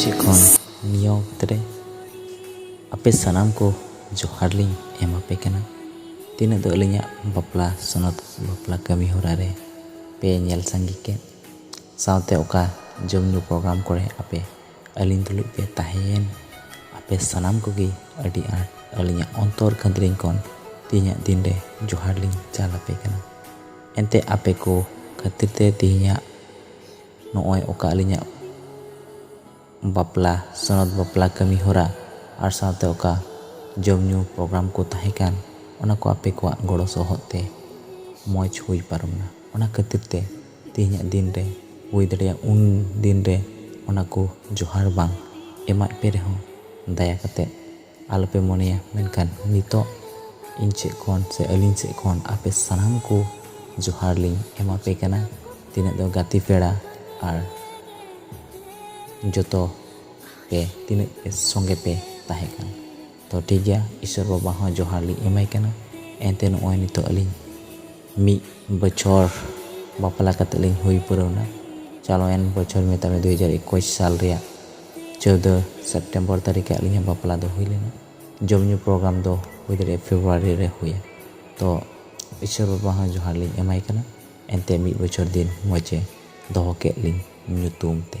ᱥᱮᱫ ᱠᱷᱚᱱ ᱱᱤᱭᱟᱹ ᱚᱠᱛᱚ ᱨᱮ ᱟᱯᱮ ᱥᱟᱱᱟᱢ ᱠᱚ ᱡᱚᱦᱟᱨ ᱞᱤᱧ ᱮᱢ ᱟᱯᱮ ᱠᱟᱱᱟ ᱛᱤᱱᱟᱹᱜ ᱫᱚ ᱟᱹᱞᱤᱧᱟᱜ ᱵᱟᱯᱞᱟ ᱥᱚᱱᱚᱛ ᱵᱟᱯᱞᱟ ᱠᱟᱹᱢᱤ ᱦᱚᱨᱟ ᱨᱮ ᱯᱮ ᱧᱮᱞ ᱥᱟᱸᱜᱮ ᱠᱮᱫ ᱥᱟᱶᱛᱮ ᱚᱠᱟ ᱡᱚᱢ ᱧᱩ ᱯᱨᱳᱜᱨᱟᱢ ᱠᱚᱨᱮ ᱟᱯᱮ ᱟᱹᱞᱤᱧ ᱛᱩᱞᱩᱡ ᱯᱮ ᱛᱟᱦᱮᱸᱭᱮᱱ ᱟᱯᱮ ᱥᱟᱱᱟᱢ ᱠᱚᱜᱮ ᱟᱹᱰᱤ ᱟᱸᱴ ᱟᱹᱞᱤᱧᱟᱜ ᱚᱱᱛᱚᱨ ᱠᱷᱟᱹᱫᱽᱨᱤᱝ ᱠᱷᱚᱱ ᱛᱮᱦᱮᱧᱟᱜ ᱫᱤᱱ ᱨᱮ ᱡᱚᱦᱟᱨ ᱞᱤᱧ ᱪᱟᱞ ᱟᱯᱮ ᱠᱟᱱᱟ ᱮᱱᱛᱮ ᱟᱯᱮ ᱠᱚ ᱠᱷᱟᱹᱛᱤᱨ ᱛᱮ ᱛᱮᱦᱮᱧᱟᱜ ᱱᱚᱜᱼᱚᱭ ᱚᱠᱟ ᱟᱹᱞᱤᱧᱟᱜ ᱵᱟᱯᱞᱟ ᱥᱚᱱᱚᱛ ᱵᱟᱯᱞᱟ ᱠᱟᱹᱢᱤ ᱦᱚᱨᱟ ᱟᱨ ᱥᱟᱶᱛᱮ ᱚᱠᱟ ᱡᱚᱢ ᱧᱩ ᱯᱨᱳᱜᱨᱟᱢ ᱠᱚ ᱛᱟᱦᱮᱸ ᱠᱟᱱ ᱚᱱᱟ ᱠᱚ ᱟᱯᱮ ᱠᱚᱣᱟᱜ ᱜᱚᱲᱚ ᱥᱚᱦᱚᱫ ᱛᱮ ᱢᱚᱡᱽ ᱦᱩᱭ ᱯᱟᱨᱚᱢᱱᱟ ᱚᱱᱟ ᱠᱷᱟᱹᱛᱤᱨ ᱛᱮ ᱛᱮᱦᱮᱧᱟᱜ ᱫᱤᱱ ᱨᱮ ᱦᱩᱭ ᱫᱟᱲᱮᱭᱟᱜᱼᱟ ᱩᱱ ᱫᱤᱱ ᱨᱮ ᱚᱱᱟ ᱠᱚ ᱡᱚᱦᱟᱨ ᱵᱟᱝ ᱮᱢᱟᱫ ᱯᱮ ᱨᱮᱦᱚᱸ ᱫᱟᱭᱟ ᱠᱟᱛᱮ ᱟᱞᱚ ᱯᱮ ᱢᱚᱱᱮᱭᱟ ᱢᱮᱱᱠᱷᱟᱱ ᱱᱤᱛᱚᱜ ᱤᱧ ᱥᱮᱫ ᱠᱷᱚᱱ ᱥᱮ ᱟᱹᱞᱤᱧ ᱥᱮᱫ ᱠᱷᱚᱱ ᱟᱯᱮ ᱥᱟᱱᱟᱢ ᱠᱚ ᱡᱚᱦᱟᱨ ᱞᱤᱧ ᱮᱢᱟ ᱯᱮ ᱠᱟᱱᱟ ᱛᱤᱱᱟᱹᱜ ᱫᱚ ᱜᱟᱛᱮ ᱯᱮᱲᱟ ᱟᱨ ᱡᱚᱛᱚ ᱯᱮ ᱛᱤᱱᱟᱹᱜ ᱯᱮ ᱥᱚᱸᱜᱮ ᱯᱮ ᱛᱟᱦᱮᱸ ᱠᱟᱱᱟ ᱛᱚ ᱴᱷᱤᱠ ᱜᱮᱭᱟ ᱤᱥᱥᱚᱨ ᱵᱟᱵᱟ ᱦᱚᱸ ᱡᱚᱦᱟᱨ ᱞᱤᱧ ᱮᱢᱟᱭ ᱠᱟᱱᱟ ᱮᱱᱛᱮ ᱱᱚᱜᱼᱚᱭ ᱱᱤᱛᱚᱜ ᱟᱹᱞᱤᱧ ᱢᱤᱫ ᱵᱚᱪᱷᱚᱨ ᱵᱟᱯᱞᱟ ᱠᱟᱛᱮᱫ ᱞᱤᱧ ᱦᱩᱭ ᱯᱩᱨᱟᱹᱣ ᱮᱱᱟ ᱪᱟᱞᱟᱣᱮᱱ ᱵᱚᱪᱷᱚᱨ ᱢᱮᱛᱟᱜ ᱢᱮ ᱫᱩ ᱦᱟᱡᱟᱨ ᱮᱠᱩᱥ ᱥᱟᱞ ᱨᱮᱭᱟᱜ ᱪᱳᱫᱽᱫᱳ ᱥᱮᱯᱴᱮᱢᱵᱚᱨ ᱛᱟᱹᱨᱤᱠᱷ ᱨᱮ ᱟᱹᱞᱤᱧᱟᱜ ᱵᱟᱯᱞᱟ ᱫᱚ ᱦᱩᱭ ᱞᱮᱱᱟ ᱡᱚᱢ ᱧᱩ ᱯᱨᱳᱜᱨᱟᱢ ᱫᱚ ᱦᱩᱭ ᱫᱟᱲᱮᱭᱟᱜᱼᱟ ᱯᱷᱮᱵᱽᱨᱩᱣᱟᱨᱤ ᱨᱮ ᱦᱩᱭᱮᱱ ᱛᱚ ᱤᱥᱚᱨ ᱵᱟᱵᱟ ᱦᱚᱸ ᱡᱚᱦᱟᱨ ᱞᱤᱧ ᱮᱢᱟᱭ ᱠᱟᱱᱟ ᱮᱱᱛᱮᱫ ᱢᱤᱫ ᱵᱚᱪᱷᱚᱨ ᱫᱤᱱ ᱢᱚᱡᱽ ᱮ ᱫᱚᱦᱚ ᱠᱮᱫ ᱞᱤᱧ ᱧᱩᱛᱩᱢ ᱛᱮ